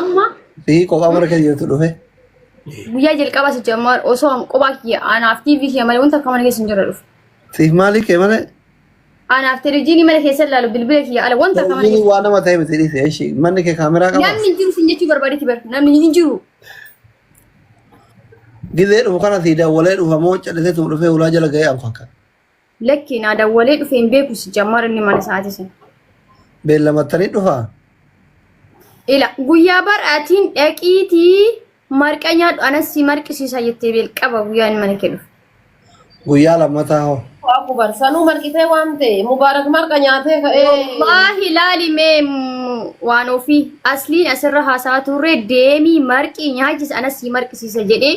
Amma Sii kophaa mana keessa jirtu dhufe. guyyaa jalqabaa si jammaa osoo an kophaa kiyya anaaf TV kiyya malee wanta akka mana keessa hin jirre dhufu. Siif maalii kee malee? Anaaf televiziyoonii mana keessa ilaalu bilbila kiyya ala wanta akka mana Televiziyoonii keessa. waan nama ta'e miti dhiise ishii. Manni kee kaameraa qabaa? Namni hin jiru sin jechuu barbaadetti bar namni hin jiru. Gizee dhufu kana sii daawwalee dhufa moo callisee tuu dhufee ulaa jala ga'ee an fakkaata. Lakki naa dawwalee dhufe hin beeku si jammar inni mana isaati sun. Beellamattanii dhufaa? Ila guyyaa bar'aatiin dhaqiitii marqa nyaadhu anas si marqisiisa jettee beel qaba guyyaa inni mana kee dhufe. Guyyaa lammataa hoo? Waaku bar sanuu marqitee waan ta'e mubaarak marqa nyaatee ka'ee. Wallaahi ilaali mee mm, waan ofii asliin asirra haasaa turre deemii marqii nyaachis anas si marqisiisa jedhee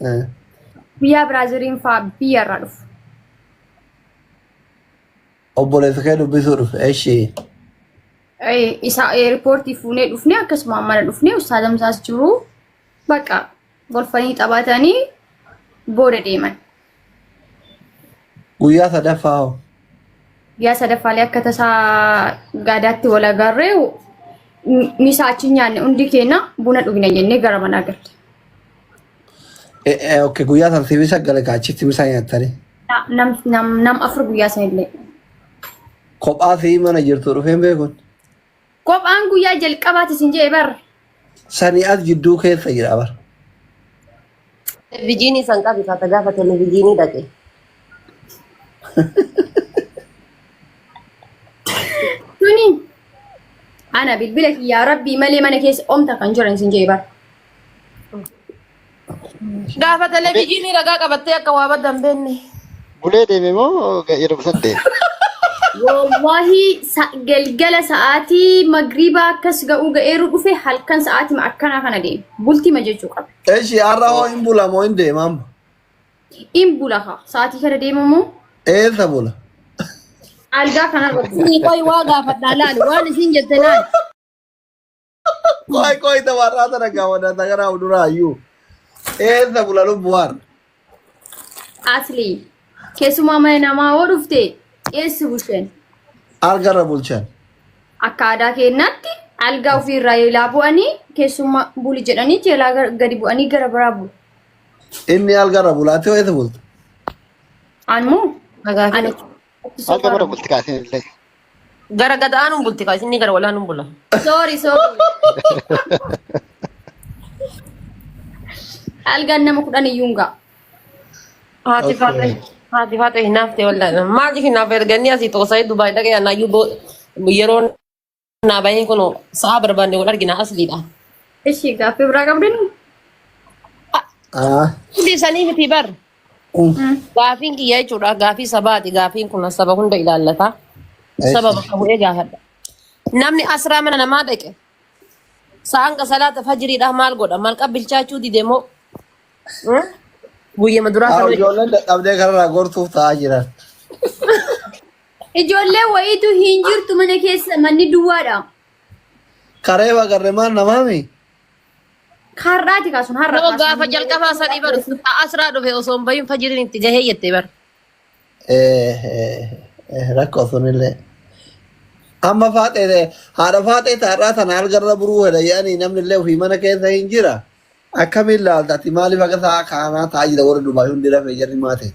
Eh, Biyyaa Biraaziliin fa'aa biyya irraa dhufu. Obboleessa kee dubbisuu dhufe. Eshi. Eh, Isa eerpoortii fuunee dhufnee akkasuma mana dhufnee ustaazam isaas jiru bakka golfanii taphatanii booda deeman. Guyyaa sadaffaa hoo? Guyyaa sadaffaalee akka tasaa gaadaatti wal agarree misaa achi nyaanne hundi keenya buna dhugna jennee gara manaa galle. Eh, eh, okay, guyyaa tartiibii saggale ka achitti misaa nyaattanii. Na- nam nam nam afur guyyaa sanillee Kophaa fi mana jirtu dhufeen beekun. kophaan guyyaa jalqabaati isin jee bar Sanii as jidduu keessa jira bar. Televijiinii san qabi taata gaafa televijiinii dhaqe. tuni ana bilbila kiyyaa rabbii malee mana keessa omta kan jiran isin jee bar Gaafa televezyiinii ragaa qabattee akka waa badda hin beekne. Bulee deeme moo yeroo san deeme? Wallahi sa- galgala sa'aatii magriibaa akkas ga'uu ga'eeru dhufe halkan sa'aatima akkanaa kana deeme. Bultima jechuu qaba. Eshi har'a hoo hin bula moo hin deema amma? In bula kaa sa'aatii kana deemamu Eessa bula? algaa kanarra bula. Sii qoy waa gaafadhaa laali waan isin jette laali. Qoy qoy tabarraa tana gaafadha tagaraa fuduraa ayyuu. Eessa bula lubbuwaan. Asli. Keessumaa mana namaa hoo dhufte eessa bushen? Algarra bulchan. Akka aadaa keenyaatti algaa ofiirraa eelaa bu'anii keessummaa buli jedhanii eelaa gar- gadi bu'anii gara biraa bulu. Inni algarra bulaatti hoo eessa bulta? Anmoo Nagaa ani keenya. Abdu Hanga Safar. mana bulti kaasin illee. Gara gad aanuun bulti kaa isinni gara walaanuun bula. Sorry, sorry. Algaan nama kudhan iyyuu hin ga'a. Haati faate haati faate hinaafte wallaan maaliif hinaaf erganii asii toosa'ee Dubaay dhaqee anaayyuu boo- yeroo Naa bahee kun sa'a barbaanne wal argina asliidha. Ishi gaaffii biraa qabdin? Ah, Hundi isanii miti bar. mm, Gaafiin kiyya jechuudha. Gaafii sabaati. Gaafiin kun saba hunda ilaallata. Saba eesh. bakka bu'ee gaafadha. Namni asraa mana namaa dhaqe sa'aan ka salaata fajiriidha maal godha? Maal qabbilchaachuu dide moo? Hmm? Guyyama duraa Ah, kan hojjetu. ijoolleen dadhabdee kanarraa gortuuf ta'aa jiran. Ijoollee wayiitu hin jirtu mana keessa manni duwwaadha. Karee bagarre maan namaami? Har'aati kaasun har'a Nama kaasun. gaafa jalqabaa sadii bar asraa dhufe osoo hin bahin fajiriin itti gahee jette bar. Eh, eh, eh, rakkoo sunillee. Amma faaxee haadha faaxee taarraa sana algarra buruu hedha yaani namni illee ofii mana keessa hin jira. Akkamiin laalta ati maaliif akka sa'a kaanaa taa'aa jira warri Dubaay hundi rafee jarri maate.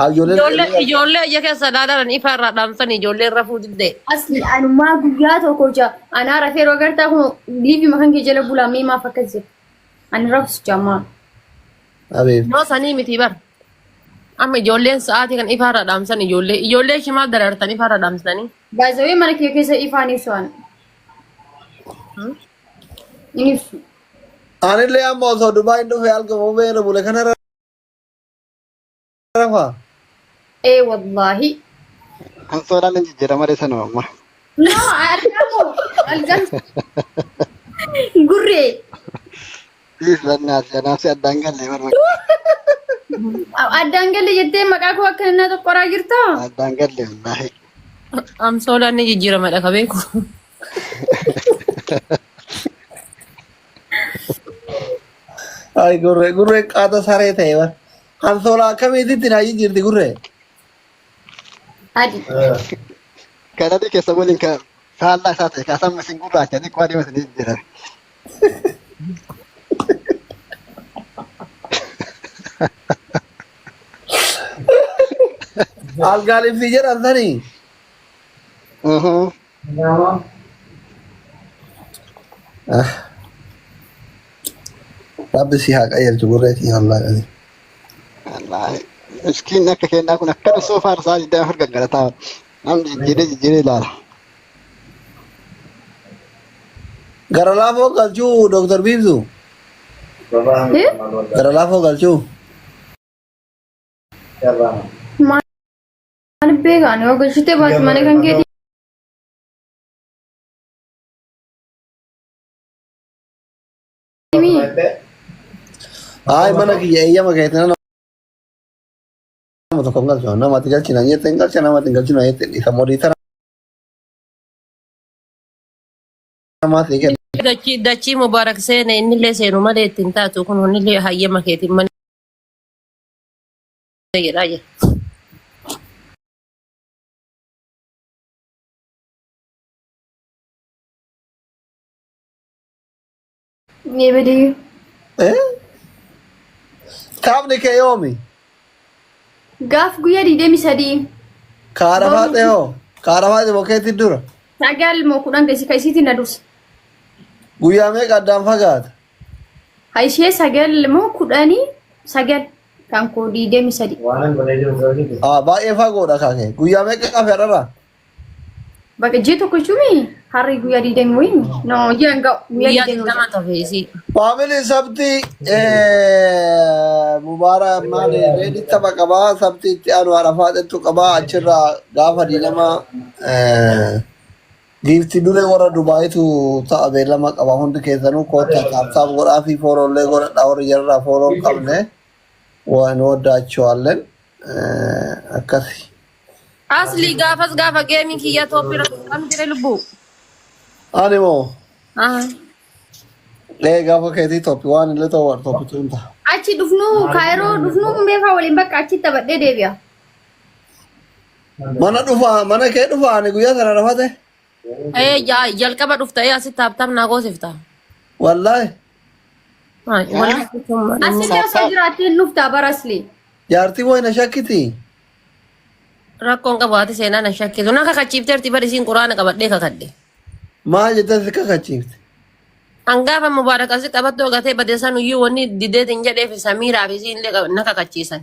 Ijoollee ijoollee ija keessa ilaalan ifa irraa dhaamsan ijoolleen rafuu diddee. Asli anumaa guyyaa tokko ja anaa rafee yeroo agartaa kun liivi makan kee jala bulaa mee maaf akkas jedhe ani rafus jamaa Abeef. Yoo sanii miti bar. Amma ijoolleen sa'aatii kan ifa irraa dhaamsan ijoollee ijoollee ishee maaf darartan ifa irraa dhaamsanii. baazawee mana kee keessa ifaan ibsu an hin ibsu Anillee amma osoo Dubaay hin dhufe halkan bobee irra bule kanarra Rafaa. Ee wallaahi. Kan soodhaan hin jijjiirama malee sanuma amma. Naa argamu algan gurree Dhiis lannaa si anaaf si addaan gallee barba. addaan galle jettee maqaa koo akka innaa tokkoraa jirta. Addaan gallee wallaahi. Amsoolaan ni jijjiiramadha ka beeku. Ay gurre gurre qaata saree ta'e bar. Hansoolaa akkamiititti naa jijjiirti gurre. Adi. Kan adii keessa waliin kan faallaa isaa ta'e kan samma isin gurraacha xiqqoo adeema isin jijjiiran. Algaan ibsi jedhan sanii. Ah. Rabbi si haa qajeelchu gurreetii wallahi qajeelchu. Wallaahi. Miskiin akka kennaa kun akkana soo faarsaa jedhee afur gaggarataa. Nam jijjiiree jijjiiree ilaala. Gara laafoo galchuu Dr. Biibsu. Eh? Gara laafoo galchuu. Maal Ani beeka ani yoo gashitee baate mana kan keetii. Himii. Ay mana kiyya eeyyama keetiin nama tokko hin galchu. Nama ati galchina jette hin galcha nama ati hin galchina jette dhiisa. Modiitara namaa ta'e kenna. Dachii dachii mubaarak seene innillee seenu malee ittiin taatu kun hunnillee hayyama keetiin mana jedhaa jira. Ni bidii. Eh? Taphni kee yoomi? Gaaf guyyaa digdamii sadii Kaara Boru. faaxee hoo? Kaara faaxee bokkeetti dura. sagal moo kudhan keessi ka isiitiin na dursa. Guyyaa meeqa addaan fagaata? Ka ishee sagal moo kudhanii sagal. Kan koo 23. Waanan godhee jiru garuu ni beeku. Ah, baay'ee fagoodha kaakee. Guyyaa meeqa qafe har'arraa? Bakka ji'a tokko jechuun harri guyyaa 20 wayii. No, ji'a hin ga'u. Guyyaa Guyyaa 20 digdama tafe isii. Faamilii sabtii mubaara maali reedii tapha qabaa sabtii itti aanu arafaa xexxu qabaa achirraa gaafa diinamaa Giifti duree warra Dubaayitu ta'a beellama qaba hundi keessanuu koottaa taaptaap godhaa fi fooloollee godhadhaa warri jararraa fooloo hin qabne waa hin waddaachuwaalleen akkasi. Asli gaafas gaafa geemiin kiyya tooppi irratti kan jire lubbu. Ani moo Aha. lee gaafa keetii toppi waan illee ta'u waan toppi tuun ta'a. Achi dhufnuu kaayiroo dhufnuu meefaa waliin bakka achitti taphadhee deebi'a. Mana dhufa mana kee dhufa ani guyyaa sana rafate Ee ja- jalqaba dhufta ee asitti taaptaap naa goosifta. wallaahi Haa, Yaa Waliin jechuun Asillee osoo saaptaa jiraattee hin dhuftaa baraslee. jaartii wayna shakkiti rakkoon qabu haati seenaa na shakkisu na kakachiifteerti bari isiin quraana qabadhee kakadhe. maal jettee si kakachiifte Hangaafa mubaarak asi qabattoo gatee badeessan iyyuu wanni dideetiin jedheef samiiraa fi isiin illee na kakachiisan.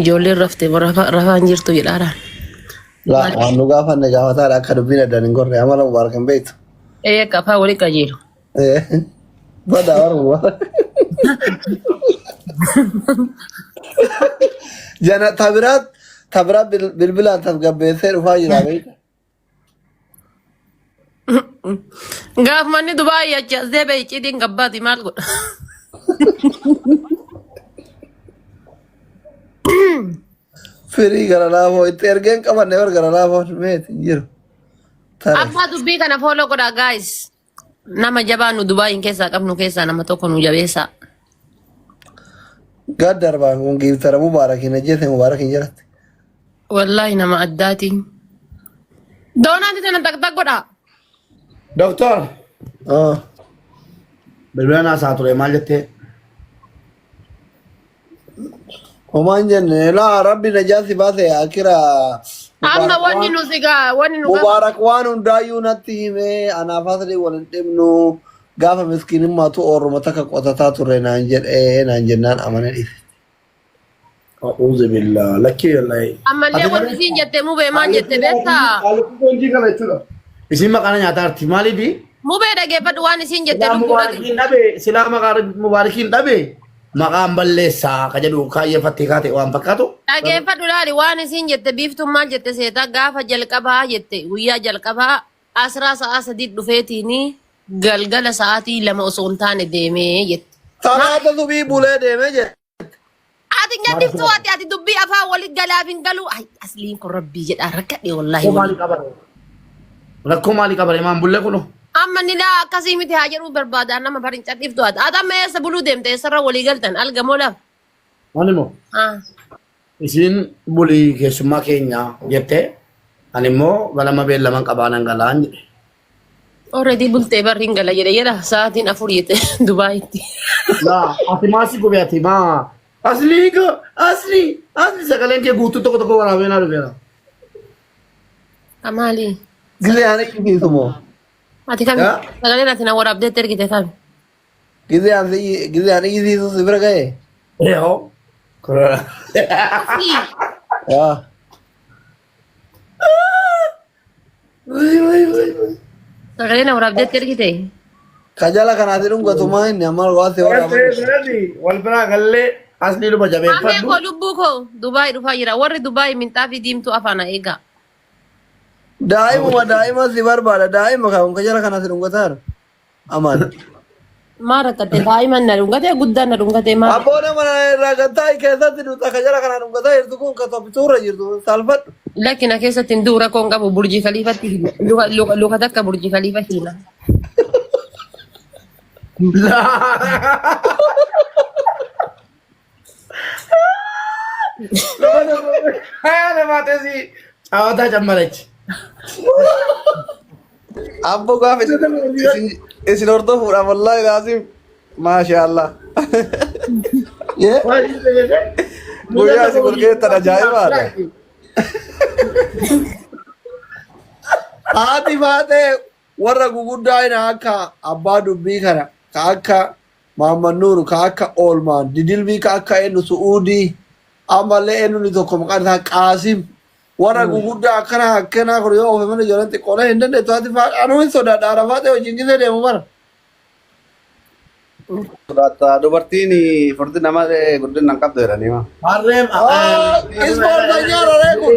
Ijoolleen rafte rafaan jirtu jedhaadhaan. Laa waan nu gaafanne gaafataadha akka dubbiin addaan hin gorre amala mubaarak hin beektu. Ee qafaa wali qajeelu. Eh, Badaa warra mubaarak. Jana tabiraat tabiraat bil- bilbilaan tasgabbeessee dhufaa jira beekta. Gaaf manni Dubaayii achi as deebi'e icciitiin gabbaati maal godha? Firii gara laafoo itti ergeen qabanne bar gara laafoon meeti hin jiru. Tare. Abbaa dubbii kana fooloo godhaa gaayis. Nama jabaa nu Dubaayiin keessaa qabnu keessaa nama tokko nu jabeessaa. Gaad darbaan kun giiftara mubaarak hin ajjeese mubaarak hin jiratte. Wallaahi nama addaati. Doonaati tana daqdaq godhaa. Doktor, Ah. bilbila naasaa ture maal jettee? Homaan jenne laa rabbi najaa si baase akira Amma mubaarak wanni waan nu sigaa wanni nu gafa. mubaarak waan hundaayyuu natti himee anaaf hasri wal hin dhibnu gaafa miskinimmaatu oorruma takka qotataa ture naan jedhee naan jennaan amane dhiise. A'uuzu billaa. Lakkii wallahi. Ammallee Ati wanti garuu- isiin jette mubee maal jette beektaa? Haalli foonjii kana jechuudha. Isin maqaana nyaataa arti. Maaliifi? Mubee dhageeffadhu waan isiin jette Silaa lubbuu dhageeffadhu. mubaarikiin dhabe, silaa maqaa rabbi mubaarikiin dhabe, maqaan balleessaa ka jedhu kaayyeeffattee kaate waan fakkaatu. Dhageeffadhu laali waan isiin jette biiftuun maal jette seeta gaafa jalqabaa jette guyyaa jalqabaa asraa sa'aa sadii dhufeetiini galgala sa'aatii lama osoo hin taane deemee jette. Salaata subii bulee deemee jedhe. Ati nyaatti Maaliif to'ate ati dubbii afaan walitti galaaf hin galu. Ay asliin kun rabbii jedhaa rakkadhe wallaahi. Rakkoo maalii qaba? Rakkoo maalii qaba? Imaan bullee kunoo. Amma ni laa akkasii miti haa jedhuu barbaada nama bariin cadhiif to'ate. Ati amma eessa buluu deemte eessarra walii galtan alga moo lafa? Ani moo Ah. isiin bulii keessummaa keenya jettee ani immoo ganama beellaman qabaanan galaan jedhe. Already bultee barri hin gala jedhe jedha sa'aatiin afur jette Dubaayitti. Laa ati maasi gube ati maa. Aslii ko asli asli sagaleen kee guutuu tokko tokko waraabee naa dhufeera. Amaali. Gizee aan eegi geessu moo. Ati kami Yaa. sagaleen ati na waraabdeetti ergite kami. Gizee aan gizee aan eegi geessu si bira ga'e. Yoo. Korora. Yaa. Sagalee na waraab jetti argite. Kajala kanaati dhungatumaa inni amma waan ta'e Waan ta'eef waraabame. jedhani wal biraa gallee asni dhuma Amee jabeeffadhu. koo lubbuu koo Dubaay dhufaa jira. Warri Dubaay minxaafii diimtuu afaana eegaa. Daa'imuma daa'ima si barbaada daa'ima kan kajala kanaati dhungataara. Amaan. Maa rakkatte daa'iman na dhungatee guddaan na dhungatee maa Abboo nama irraa kan taa'e keessatti duuta kan jala kanaa dhungataa jirtu kun kan toppituurra jirtu saalfadhu. lakki na keessatti hin du'u rakkoo hin qabu burjii kaliifatti hima. Luka- luka- luka takka burjii kaliifa hima. Laa. Hayaa namaa teessii caawataa cammalachi. Abbo gaafa isin isin hordofuudhaaf wallaahi laasiif maashaallah. Guyyaa isin wal geettan ajaa'ibaadha. Haati baatee warra guguddaa hin akka abbaa dubbii kana ka akka Mahammad Nuur ka akka Oolmaan, Didilbii ka akka eennu Su'uudii, ammallee eennu inni tokko maqaan isaa Qaasim, warra guguddaa akkana akkanaa kun yoo ofe malee ijoolleen xiqqoolee hin dandeettu ati faadha anuu hin sodaadha Arafaaxee wajjin gisee deemu bara. Sodaata dubartiin furdina malee guddina hin qabdu jedhanii maa. Harree Aa, ispoortanyaa raree kun.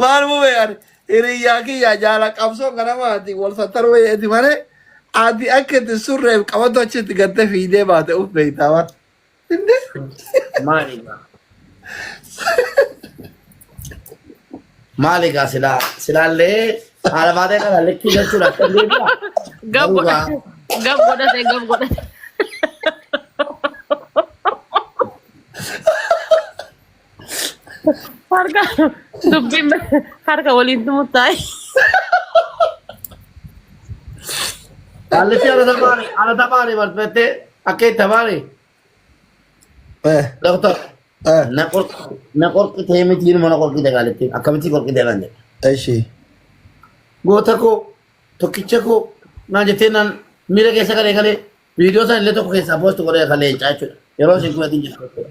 Maal mube ani hiriyyaa kiyyaa jaala qabsoo ganamaati wal sattaruu eeti malee ati akka itti surreef qabatu achitti gatte fiidee baate uf beektaa waan. Inni Maali egaa? Maali egaa silaa silaallee haala baatee kana likkii jechuun akka deebi'a. Gab Garuu egaa godhate. Gab godhate. Gab godhate. Harka dubbiin harka waliin tumutaayi. Allatti ana tamaare ana tamaare barbaadde akka itti tamaare Eh, doktor eh, na qorqi na qorqitee miti ilma na qorqite gaaletti akkamitti qorqite naan jedhe. Eshi. Goota koo tokkicha koo naan jettee naan miira keessa galee galee viidiyoo sana illee tokko keessaa poostu godhee kan leencaa jechuudha. Yeroo isin kumatiin jirtu jechuudha.